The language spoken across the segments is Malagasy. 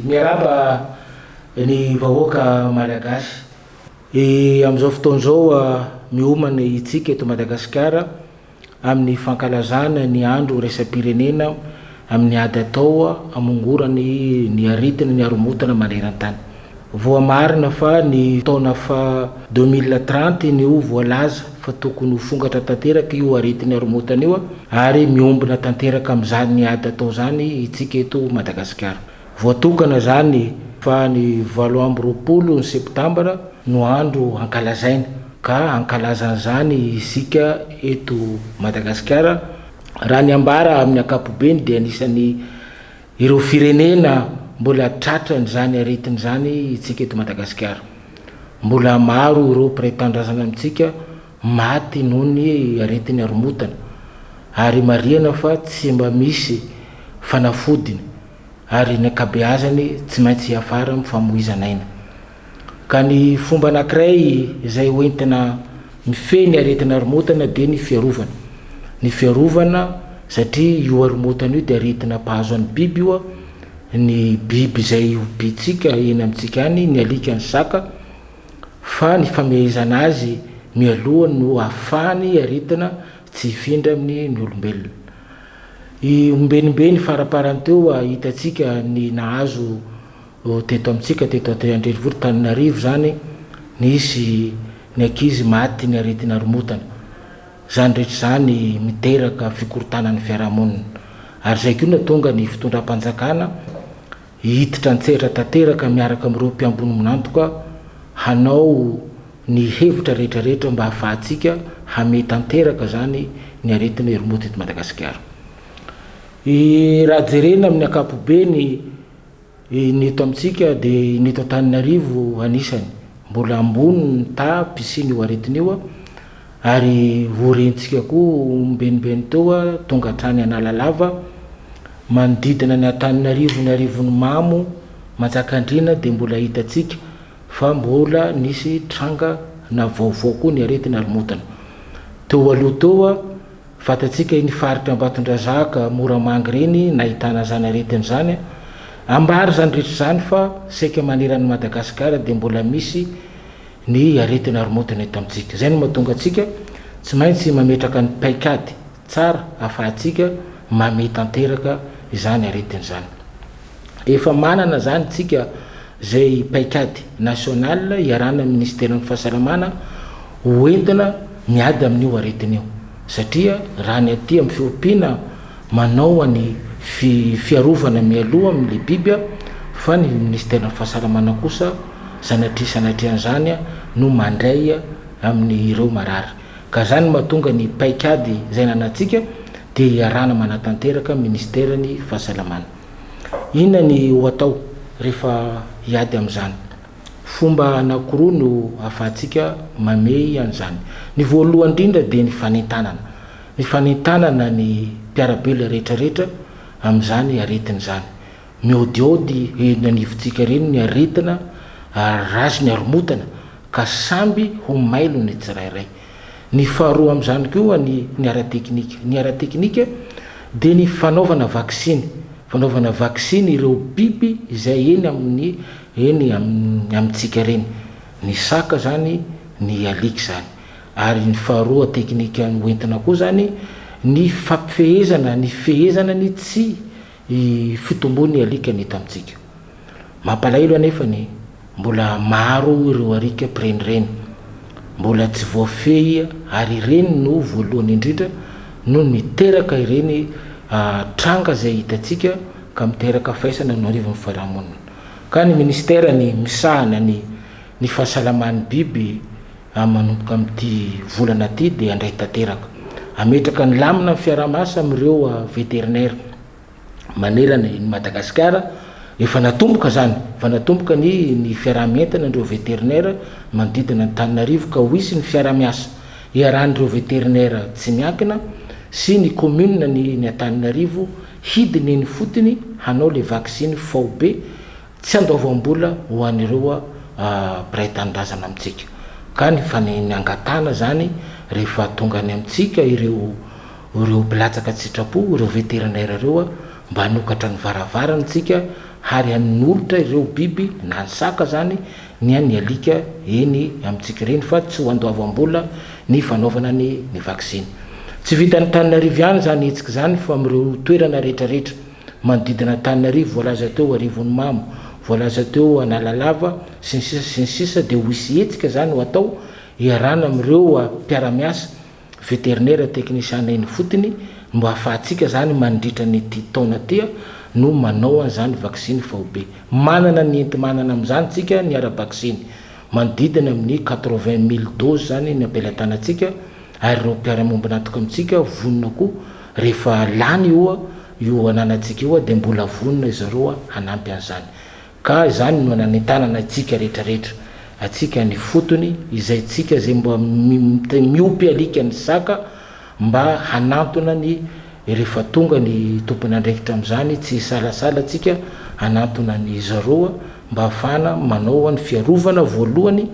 Miarahaba ny vahoaka Malagasy. Amin'izao fotoana izao miomana hitsika eto Madagasikara. amin'ny fankalazana ny andro iraisam-pirenena amin'ny ady atao hamongorana ny aretina ny haromotana maneran-tany. Voamarina fa ny taona faha deux mille trente ny ho voalaza fa tokony ho fongatra tanteraka io aretin'ny haromotana io ary miombona tanteraka amin'izany ady atao izany isika eto Madagasikara. Voatokana izany fa ny valo amby roapolo ny septambra no andro hankalazaina ka hankalaza an'izany isika eto Madagasikara raha ny ambara amin'ny ankapobeny dia anisan'ny ireo firenena mbola tratran'izany aretina izany itsika eto Madagasikara. Mbola maro ireo mpiray tanindrazana amintsika maty noho ny aretin'ny haromotana ary marihana fa tsy mba misy fanafodiny. ary ny ankabeazany tsy maintsy hiafara amin'ny famoizana aina. Ka ny fomba anankiray izay ho entina mifehy ny aretina aromotana dia ny fiarovana. Ny fiarovana satria io aromotana io dia aretina mpahazo an'ny biby io, ny biby izay hobiantsika eny amintsika any, ny alika, ny saka, fa ny famehezana azy mialoha no ahafahan'ny aretina tsy hifindra amin'ny olombelona. I Ombenimbeny faraparany teo hitantsika ny nahazo teto amintsika teto Antananrenivohitra Tananarivo izany nisy ny ankizy maty ny aretina aromotana. Izany rehetra izany miteraka fikorontanan'ny fiarahamonina. Ary izay koa no nahatonga ny fitondram-panjakana. Hiditra an-tsehatra tanteraka miaraka amin'ireo mpiambonomon'antoka hanao ny hevitra rehetrarehetra mba hahafahantsika hamehy tanteraka izany ny aretina herimoto eto Madagasikara. Raha jerena amin'ny ankapobeny ny eto amintsika dia ny eto Antananarivo anisany mbola ambony ny taha mpisian'io aretina io. Ary ho rentsika koa ombenibeny teo tonga hatrany Analalava, manodidina ny Antananarivo ny Arivony Mamo, Manjakandriana dia mbola hitantsika fa mbola nisy tranga na vaovao koa ny aretina arimontana. Teo aloha teo fantatsika iny faritra Ambatondrazaka, Moramanga ireny nahitana izany aretina izany. Ambara izany rehetra izany fa saika maneran'i Madagasikara dia mbola misy. ny aretina aromontana eto amintsika. Izay no mahatonga antsika tsy maintsy mametraka ny paikady tsara ahafahantsika mamea tanteraka izany aretina izany. Efa manana izany isika izay paikady national iarahana amin'ny minisiteran'ny fahasalamana ho entina miady amin'io aretina io satria raha ny aty amin'ny fiompiana manao any fiarovana mialoha amin'ilay biby fa ny minisiteran'ny fahasalamana kosa Sanatria sanatria an'izany no mandray amin' ireo marary. Ka izany no mahatonga ny paikady izay ananantsika dia iarahana manatanteraka minisiteran'ny fahasalamana. Inona ny ho atao rehefa hiady amin'izany? Fomba anankiroa no ahafahantsika mamehy an'izany. Ny voalohany indrindra dia ny fanentanana. Ny fanentanana ny mpiara-belona rehetra rehetra amin'izany aretina izany. Mihaodihaody eny anivontsika ireny ny aretina ary ratsy ny haromotana ka samby ho mailo ny tsirairay. Ny faharoa amin'izany koa ny ny ara-teknika. Ny ara-teknika dia ny fanaovana vaksiny, fanaovana vaksiny ireo biby izay eny amin'ny eny amin'ny amintsika ireny. Ny saka izany, ny alika izany. Ary ny faharoa teknika hoentina koa izany ny fampifehezana ny fehezana ny tsy I Fitomboa ny alika ny tamintsika. Mampalahelo anefa ny mbola maro ireo arika mpirenireny. Mbola tsy voafehy ary ireny no voalohany indrindra no miteraka ireny tranga izay hitantsika ka miteraka faisana eo anivon'ny fiarahamonina. Ka ny Minisitera ny misahana ny ny fahasalaman'ny biby Ary manomboka amin'ity volana ity dia handray tanteraka. Hametraka ny lamina ny fiaraha-miasa amin'ireo Vétérinaires manerana i Madagasikara. Efa natomboka izany, efa natomboka ny ny fiaraha-mientana ireo Vétérinaires manodidina an'Antananarivo ka ho hisy ny fiaraha-miasa iarahan'ireo Vétérinaires tsy miankina sy ny Communes ny ny Antananarivo hidina eny ifotony hanao ilay vaksiny faobe Tsy andoavam-bola ho an'ireo mpiray tanindrazana amintsika ka ny fanehiny angatahana izany rehefa tonga any amintsika ireo ireo mpilatsaka an-tsitrapo, ireo veterinaire ireo mba hanokatra ny varavarany tsika hary hanolotra ireo biby na ny saka izany ny an'ny alika eny amintsika ireny fa tsy ho andoavam-bola ny fanaovana ny ny vaksiny. Tsy vitan'Antananarivo ihany izany hetsika izany fa amin'ireo toerana rehetra rehetra. manodidina Antananarivo voalaza teo Arivonimamo, voalaza teo Analalava, sy ny sisa sy ny sisa dia ho hisy hetsika izany ho atao iarahana amin'ireo mpiara-miasa veterinera teknisiana eny ifotony mba hahafahantsika izany mandritra an'ity taona ity no manao an'izany vaksiny faobe. Manana ny enti-manana amin'izany tsika ny ara-baksiny, manodidina amin'ny quatre-vingt mille doses izany no ampelatanantsika, ary ireo mpiara-miombon'antoka amintsika vonona koa rehefa lany io io ananantsika io dia mbola vonona izy ireo hanampy an'izany. Ka izany no nanentanana antsika rehetra rehetra, antsika ny fotony, izay tsika izay mba miopy alika ny saka mba hanantona ny rehefa tonga ny tompon'andraikitra amin'izany tsy hisalasala tsika hanantona an'izy ireo mba hahafahana manao ny fiarovana voalohany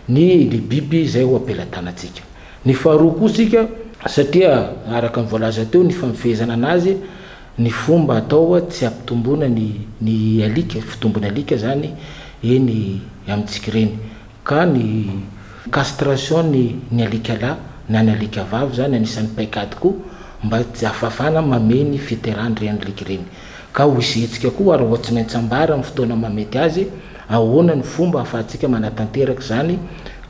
ny libiby izay ho ampelatanantsika. Ny faharoa koa isika, satria araka ny voalaza teo ny famifehezana anazy, ny fomba atao tsy hampitomboana ny ny alika, fitombon'ny alika izany eny amintsika ireny. Ka ny castration ny ny alika lahy na ny alika vavy izany anisan'ny paikady koa mba tsy hahafahafana mamehy ny fiterahany ireny alika ireny. Ka ho izy hetsika koa ary ho tsy maintsy ambara amin'ny fotoana mahamety azy Ahoana no fomba ahafahantsika manatanteraka izany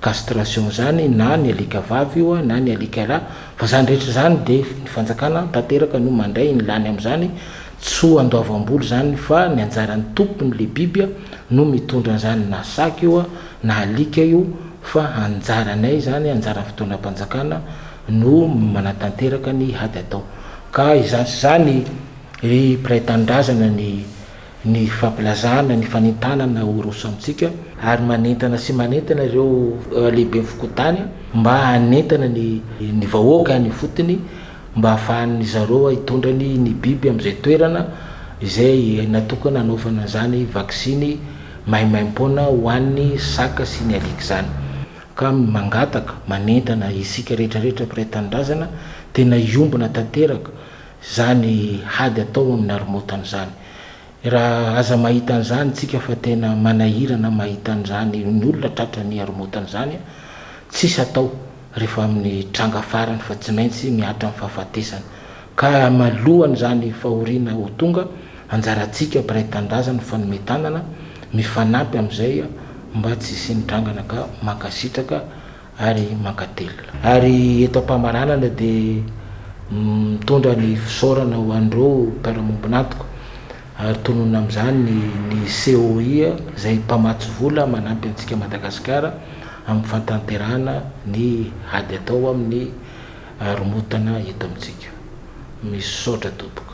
castration izany na ny alika vavy io na ny alika lahy fa izany rehetra izany dia ny fanjakana tanteraka no mandray ny lany amin'izany tsy ho andoavam-bola izany fa ny anjaran'ny tompony le biby no mitondra an'izany na saka io na alika io fa anjaranay izany anjaran'ny fitondram-panjakana no manatanteraka ny ady atao ka izany sy izany ry mpiray tanindrazana ny ny fampilazana ny fanentanana ho roso amintsika ary manentana sy manentana ireo lehiben'ny fokontany mba hanentana ny ny vahoaka any ifotony mba hahafahan'ny zareo hitondra ny ny biby amin'izay toerana izay natokana hanaovana an'izany vaksiny maimaim-poana ho an'ny saka sy ny alika izany ka mangataka manentana isika rehetra rehetra mpiray tanindrazana tena hiombona tanteraka Izany hady atao amin'ny narmotana izany. Raha aza mahita an'izany tsika fa tena manahirana mahita an'izany ny olona tratra ny haromotana izany a! Tsisy atao rehefa amin'ny tranga farany fa tsy maintsy mihatra amin'ny fahafatesana. Ka malohan'izany fahoriana ho tonga, anjarantsika mpiray tanindrazana ny fanome tanana, mifanampy amin'izay mba tsy hisian'ny trangana ka mankasitraka ary mankatelina. Ary eto am-pamaranana dia mitondra ny fisaorana ho an'ireo mpiara-miombon'antoka ary tononina amin'izany ny COI izay mpamatsy vola manampy antsika Madagasikara amin'ny fahatanterahana ny ady atao amin'ny haromotana eto amintsika. Misaotra tompoko.